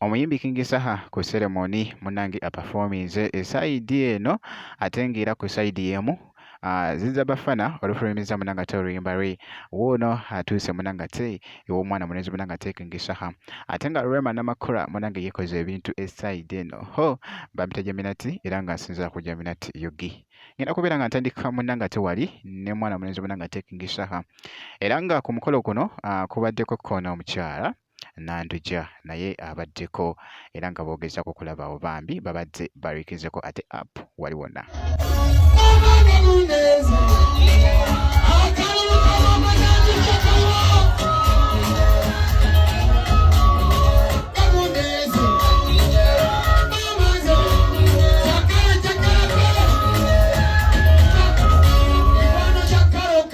Omuyimbi King Saha ku seremoni munange apafominze esayidi eno ate ng'era ku sayidi y'emu Ah, zinza bafana olufulumiza munanga te oluyimba lwe wuuno atuuse munanga te ew'omwana mulenzi munanga te kingishaha ate nga rema namakula munange yekoze ebintu esaidi eno ho bampita jaminati era nga nsinzira ku jaminati yogi ngenda kubeera nga ntandika munanga te wali ne mwana mulenzi munanga te kingishaha era nga ku mukolo kuno ah, kubaddeko koona omukyala Nandujja naye abaddeko era nga boogezaako okulabaawo bambi babadde barikinzeko ate app wali wonna.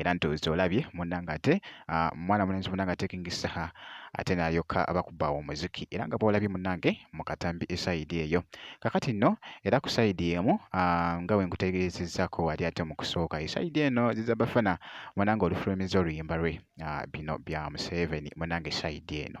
era ntuuzi olabye munange ate ah, mwana mulenzi munange atekingisa ate nayoka abakuba omuziki era nga bwolabye munange mu katambi esaidi eyo kakati nno era ku saidi emu ah, nga wenkutegeezezako wali ate mu kusooka esaidi eno ziza bafana munange olufulumiza oluyimba lwe ah, bino bya museveni munange saidi eno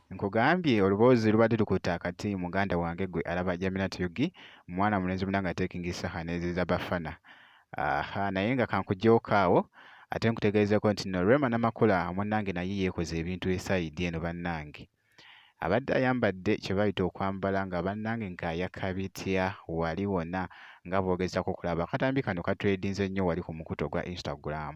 Nkugambye oluboozi lubadde lukutte akati muganda wange gwe alaba Jaminat Yugi mwana mulenzi munange atekingi saha neziza bafana aha naye nga kankugyoka awo ate nkutegeezeko nti no Rema Namakula munange naye yeekoze ebintu esayidi eno bannange abadde ayambadde kye bayita okwambala nga bannange ng'ayaka bitya wali wona nga bw'ogezaako okulaba akatambi kano katredinze nnyo wali ku mukutu ogwa Instagram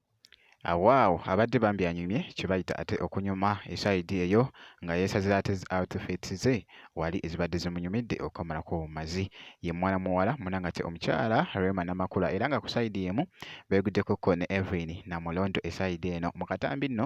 Awaawo abadde bambi anyumye kyebayita ate okunyuma esayidi eyo nga yeesazira ate zi outfits ze wali ezibadde zimunyumidde okukamalako obumazi. Ye muwala muwala munange ate omukyala Rema Namakula era nga ku sayidi emu beeguddeko ko ne Evelyn Namulondo esayidi eno mu katambi nno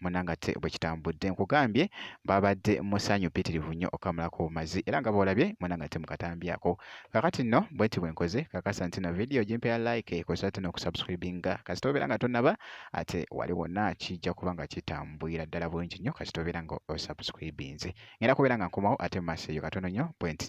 munangate bwe kitambudde nkugambye babadde musanyu pitirivu nnyo okamulako obumazi era nga boolabye munangate mu katambi ako kakati nno bwenti bwe nkoze kakasa nti no vidiyo gimpe ya like ekozesa tino okusubscribinga kasita obeera nga tonaba ate wali wonna kijja kuba nga kitambwira ddala bulungi nnyo kasita obeera nga osubscribinze ngenda kubeera nga nkomawo ate mu maaso eyo katono nnyo bwenti